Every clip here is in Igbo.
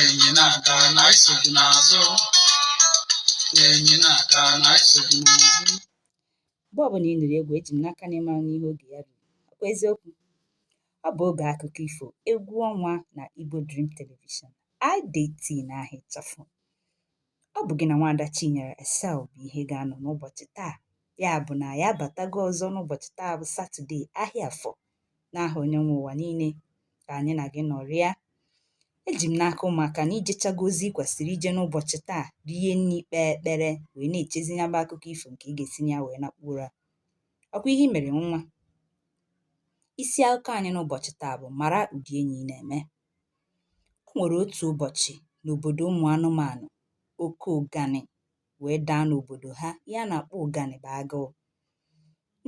enyi na-aga na anyị so gị n'azụ enyi na-aga na anyị so gị n'azụ mgbe ọbụla ị nụrụ egwu eji m n'aka na ị mara n'ihe oge ya ruru ọkwa eziokwu ọ bụ oge akụkọ ifo egwu ọnwa na igbo dream television idt n'aha ịchafụ ọ bụ gị na nwaada chinyere esel bụ ihe ga-anọ n'ụbọchị taa ya bụ na ya abatago ọzọ n'ụbọchị taa bụ satọde ahịa afọ n'aha onye nwe ụwa niile ka anyị na gị nọrịa eji m n'aka ụmụaka na i jechago ozi kwesịrị ije n'ụbọchị taa rie nri kpee ekpere wee na-echezi ya bụ akụkọ ifo nke ị ga-esi na ya wee nakpuo ụra ọkwa ihe mere ngwa isi akụkọ anyị n'ụbọchị taa bụ mara ụdị enyi ị na-eme o nwere otu ụbọchị n'obodo ụmụ anụmanụ oke ụganị wee daa n'obodo ha ihe a na-akpọ ụganị bụ agụụ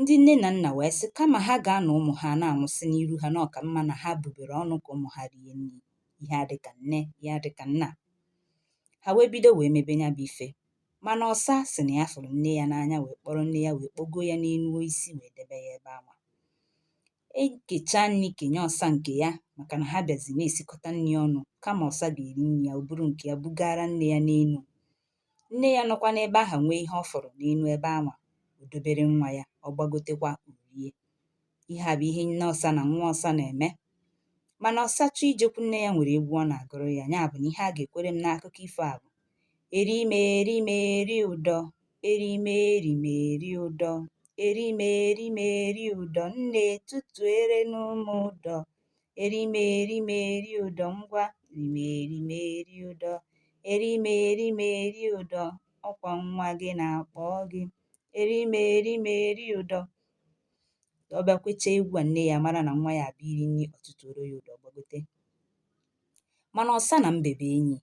ndị nne na nna wee sị kama ha ga-anọ ụmụ ha na-anwụsị n'iru ha na ọ ka mma na ha bubere ọnụ ka ụmụ ha rie nri ihe a dịka nne ihe a dịka nna ha wee bido wee mebe ya bụ ife mana ọsa sị na ya fụrụ nne ya n'anya wee kpọrọ nne ya wee kpọgo ya n'elu osisi wee debe ya ebe anwa e kechaa nri kenye ọsa nke ya maka na ha bịazi na-esikọta nri ọnụ kama ọsa ga-eri nri ya o buru nke ya bugara nne ya n'elu Nne ya nọkwa n'ebe ahụ nwee ihe ọ fụrụ n'elu ebe anwa o dobere nwa ya, ọ gbagotekwa o rie. Ihe a bụ ihe nne ọsa na nwa ọsa na-eme. Mana ọsa chọọ ijekwu nne ya nwere egwu ọ na-agụrụ ya, ya bụ na ihe a ga-ekwere m n'akụkọ ifo a bụ eri m eri m eri ụdọ eri m eri m eri ụdọ eri m eri m eri ụdọ nne tutuere nụ m ụdọ erimerimeri ụdọ ngwa rimerimeri ụdọ erimerimeri ụdọ ọkwa nwa gị na-akpọ gị erimerimeri ụdọ ọ bịa kwechaa egwu a nne ya mara na nwa ya abịa iri nri o tutuoro ya ụdọ gbagote mana ọsa na mbe bụ enyi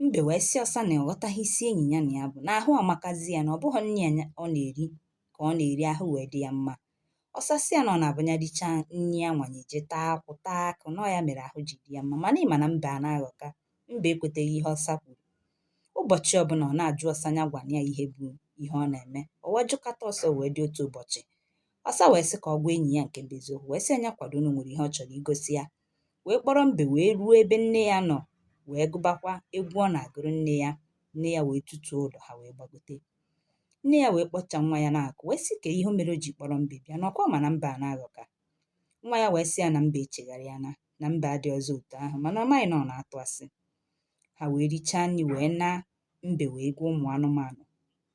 mbe wee sị ọsa na ọ ghọtaghị isi enyi ya na ya bụ na ahụ amakazi ya na ọ bụghị nri a ọ na-eri ka ọ na-eri ahụ wee dị ya mma ọsa sị ya na ọ na-abụ ya richaa nri anwa ya eje taa akwụ taa akụ na ya mere ahụ ji dị ya mma mana ị ma na mbe a na-aghọka mbe ekweteghị ihe ọsa kwuru ụbọchị ọbụla ọ na-ajụ ọsa ya gwa ya ihe bụ ihe ọ na-eme o wee jụkata ọsa wee dị otu ụbọchị ọsa wee sị ka ọ gwa enyi ya nke bụ eziokwu wee sị ya ya kwado na o nwere ihe ọ chọrọ igosi ya wee kpọrọ mbe wee ruo ebe nne ya nọ wee gụbakwa egwu ọ na-agụrụ nne ya nne ya wee tutuo ụdọ ha wee gbagote nne ya wee kpọcha nwa ya n'akụkụ wee sị kee ihe mere o ji kpọrọ mbe bịa na ọkwa ma na mbe a na-aghọka nwa ya wee sị ya na mbe echegharịana na mbe adịrọzị otu ahụ mana ọ maghị na ọ na-atụ asị ha wee richaa nri wee naa mbe wee gwa ụmụ anụmanụ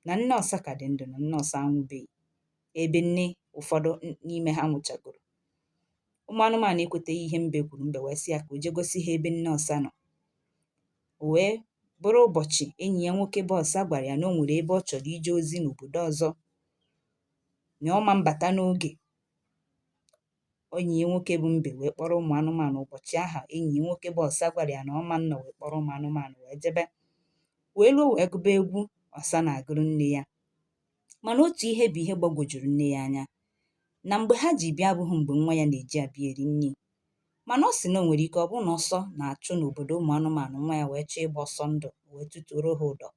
na nne ọsa ka dị ndụ na nne ọsa anwụbeghị ebe nne ụfọdụ n'ime ha nwụchagoro ụmụ anụmanụ ekweteghị ihe mbe kwuru mbe wee sị ya ka o jee gosi ha ebe nne ọsa nọ O wee bụrụ ụbọchị enyi ya nwoke bụ ọsa gwara ya na o nwere ebe ọ chọrọ ije ozi n'obodo ọzọ na ọ ma mbata n'oge enyi ya nwoke bụ mbe wee kpọrọ ụmụ anụmanụ ụbọchị ahụ enyi ya nwoke bụ ọsa gwara ya na ọ ma nnọ wee kpọrọ ụmụ anụmanụ wee jebe wee ruo wee gụba egwu ọsa na-agụrụ nne ya mana otu ihe bụ ihe gbagwojuru nne ya anya na mgbe ha ji bịa abụghị mgbe nwa ya na-eji abịa eri nri mana ọ sị na o nwere ike ọ bụrụ na ọsọ na-achụ n'obodo ụmụ anụmanụ nwa ya wee chọọ ịgba ọsọ ndụ wee tụtuoro ha ụdọ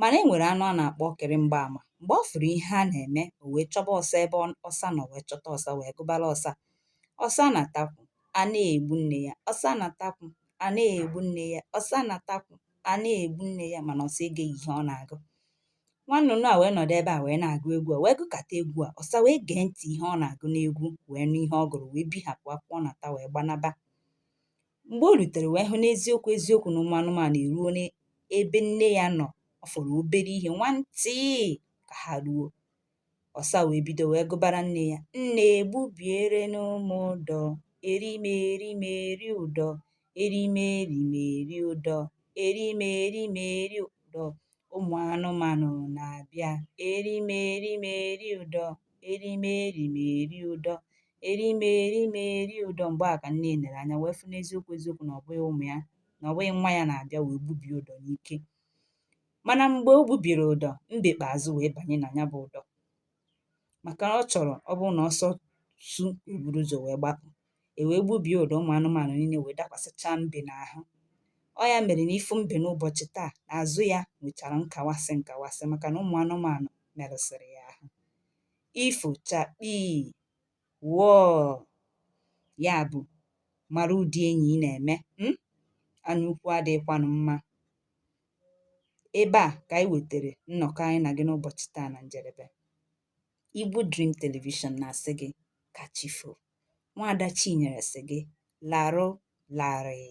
mana e nwere anụ a na-akpọ ọkịrị mgbaama mgbe ọ fụrụ ihe a na-eme o wee chọba ọsa ebe ọ- ọsa nọ wee chọta ọsa wee gụbara ọsa ọsa na-ata akwụ a na-egbu nne ya ọsa na-ata akwụ a na-egbu nne ya ọsa na-ata akwụ a na-egbu nne ya mana ọsa egeghị ihe ọ na-agụ nwa nnụnụ a wee nọdụ ebe a wee na-agụ egwu a wee gụkata egwu a ọsa wee gee ntị ihe ọ na-agụ n'egwu wee nụ ihe ọ gụrụ wee bịa hapụ akwụ ọ na-ata wee gbanaba mgbe o rutere wee hụ n'eziokwu eziokwu na ụmụ anụmanụ eruo n'ebe nne ya nọ ọ fọrọ obere ihe nwantịị ka ha ruo Ọsa wee bido wee gụbara nne ya, Nne gbubierenụ m ụdọ, erimerimeri ụdọ, erimerimeri ụdọ, erimerimeri ụdọ, ụmụ anụmanụ na-abịa, erimerimeri ụdọ, erimerimeri ụdọ, erimerimeri ụdọ. Mgbe a ka nne ya nere anya wee fụ n'eziokwu eziokwu na ọ bụghị ụmụ ya na ọ bụghị nwa ya na-abịa wee gbubie ụdọ n'ike. mana mgbe o gbubiri ụdọ mbe kpeazụ wee banye na ya bụ ụdọ maka na ọ chọrọ ọ bụrụ na ọsọ su o buru ụzọ wee gbapụ e wee gbubie ụdọ ụmụ anụmanụ niile wee dakwasịchaa mbe n'ahụ ọ ya mere na ị fụ mbe n'ụbọchị taa na azụ ya nwechara nkawasị nkawasị maka na ụmụ anụmanụ merụsịrị ya ahụ ifo chakpii wọọ ya bụ mara ụdị enyi ị na-eme hmm? anya ukwu adịghịkwanụ mma ebe a ka anyị wetara nnọkọ anyị na gị n'ụbọchị taa na njedebe Igbo Dream Television na-asị gị ka chi foo nwaada Chinyere sị gị larụ larịị